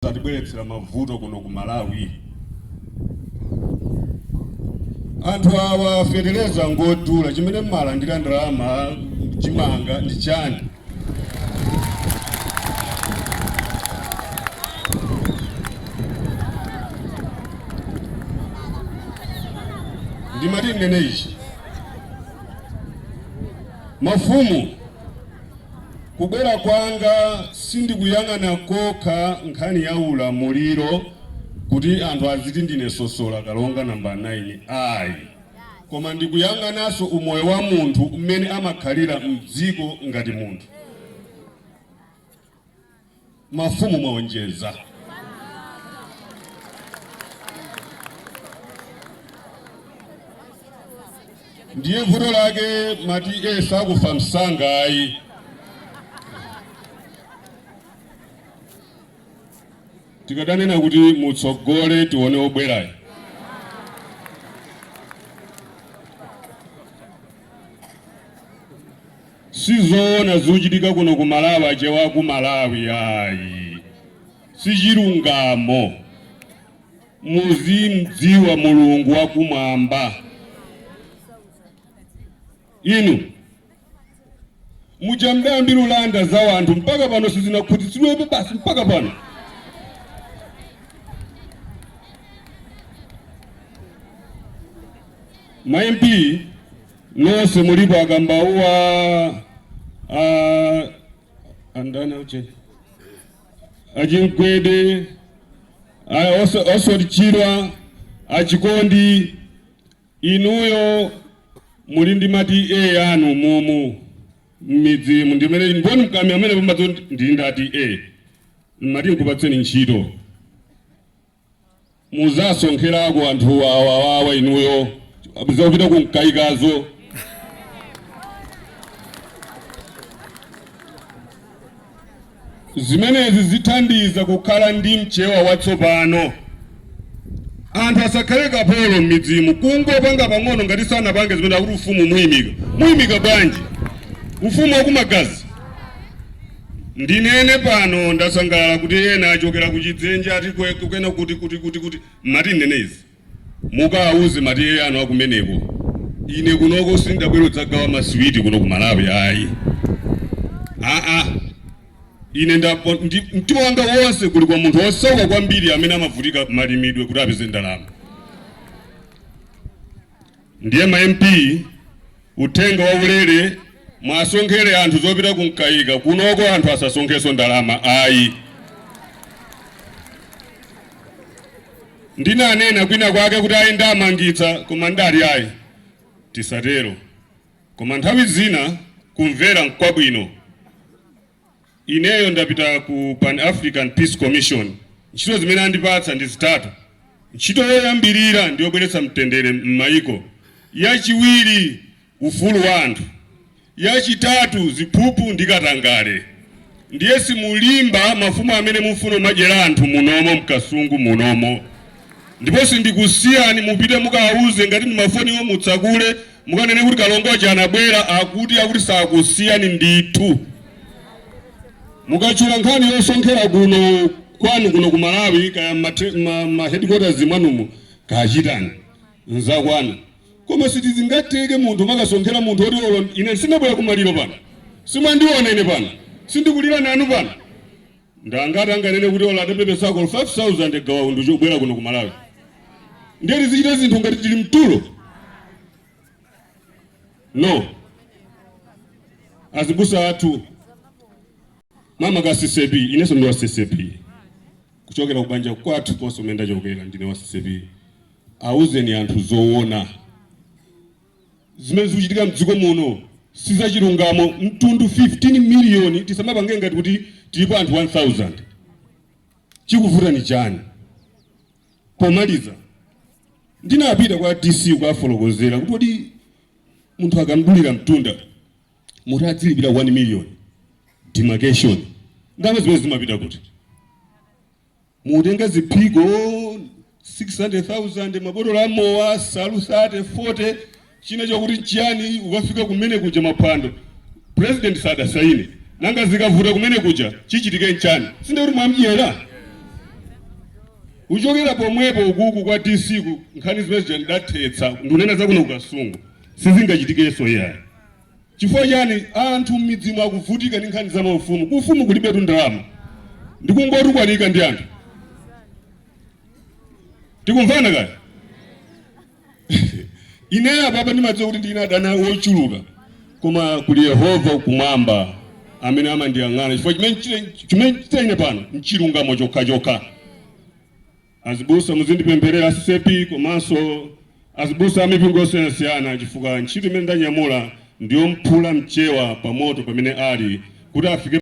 Zatibweretsera mavuto kuno ku Malawi. Anthu awa feteleza ngodula chimene m'malandira ndalama chimanga ndi chani? Ndimati ndinene ichi mafumu Kubwera kwanga sindikuyang'ana kokha nkhani ya ulamuliro kuti anthu aziti ndine sosola kalonga nambala 9 ayi koma ndikuyang'ananso umoyo wa munthu mmene amakhalira mdziko ngati munthu. Mafumu mwaonjeza. Ndiye vuto lake mati eee sakufa msanga ayi. Tikadanena kuti mutsogole tione obwerayo. Sizoona zikuchitika kuno ku Malawi achewa aku Malawi ayi sichilungamo muzimdziwa Mulungu wakumwamba inu muja mudayambira kulanda za wanthu mpaka pano simunakhutitsidwebe basi mpaka pano ma MP nonse mulipo a Kambauwa a andana ucheni a Chimkwende a- oso- Oswald Chirwa a Chikondi inuyo muli ndi ma TA anu mumu mmidzimu ndimene mboni mkami amene pambadzo ndili ndati e mati nkupatseni ntchito Muzasonkherako anthu awawawa inuyo zopita ku Mkaikazo zimenezi zithandiza kukhala ndi mchewa watsopano anthu asakhale kapolo m'midzimu kungopanga pang'ono ngati sanapange zimene akuti ufumu muimika muimika bwanji ufumu wakumagazi Ndinene pano ndasangalala kuti ena achokera ku Chidzenje ati kwe kukena kuti kuti kuti kuti ndimati ndinene izi mukawauze ma TA anu akumeneko ine kunoko sindabwere kudzagawa maswiti kuno ku Malawi ayi aa ine nda ndi, mtima wanga wonse uli kwa munthu osauka kwambiri amene amavutika malimidwe kuti apeze ndalama ndiye ma mp uthenga wa ulere mwasonkhera anthu zopita ku Mkaika kunoko anthu asasonkheso ndalama ayi ndinanena kwina kwake kuti ayi ndamangitsa koma ndati ayi tisatero koma nthawi zina kumvera nkwabwino Ineyo ndapita ku Pan African Peace Commission. Ntchito zimene andipatsa ndi zitatu. Ntchito yoyambirira ndi yobweretsa mtendere m'mayiko, yachiwiri ufulu wa anthu, yachitatu ziphuphu ndi katangale. Ndiye simulimba mafumu amene mufuna kumadyera anthu munomo m'Kasungu munomo. Ndipo sindikusiyani mupite mukawauze ngati ndi mafoniwo mutsakule Mukanene kuti Kalonga uja anabwera akuti akuti sakusiyani ndithu. Mukatchula nkhani yosonkhera kuno kwanu kuno ku Malawi kaya ma headquarters mwanumo kachitani nzakwanu koma sitizingateke munthu kumakasonkhera munthu oti olo ine sindabwera kumaliro pano simwandiona ine pano sindikulira nanu pano Ndi angati anganene kuti olo atapepesako olo 5000 ya Gawa Undi yobwera kuno ku Malawi? Ndiye tizichita zinthu ngati tili mtulo? No. Azibusa athu makamaka CCP inenso ndi wa CCP kuchokera kubanja kwathu konse kumene ndachokera ndine wa CCP. Auzeni anthu zoona. zimene zikuchitika mdziko muno sizachilungamo mtundu 15 million tisamapange ngati kuti tilipo anthu 1000 chikuvuta ni chani pomaliza ndinapita kwa dc kukafotokozera kuti kodi munthu akamdulira mtunda muti adzilipira 1 million demarcation ndalama zimenezi zimapita kuti Mutenga ziphiko 600,000, mabotolo a mowa asalu 30, 40, china chakuti nchiyani, ukafika kumene kuja maphwando, president sadasaine. Nanga zikavuta kumene kuja chichitike nchani? Sindiye kuti mwamdyera? Kuchokera pomwepo ukuku kwa DC nkhani zimene zija ndidathetsa, ndikunena za kuno ku Kasungu, sizingachitikenso iyayi. Chifukwa chani anthu mmidzimu akuvutika ndi nkhani za maufumu? Ku ufumu kulibetu ndalama, ndikungotukwanika ndi anthu. Tikumvana kaya? Ineyo apapa ndimadziwa kuti ndili ndi adani wochuluka, koma kuli Yehova kumwamba amene amandiyang'ana, chifukwa chimene ndikuchita ine pano nchilungamo chokha chokha. Azibusa muzindipempherera a CCAP komanso azibusa amipingo yosiyanasiyana chifukwa ntchito imene ndanyamula ndiyomuphula Mchewa pamoto pamene ali kuti afike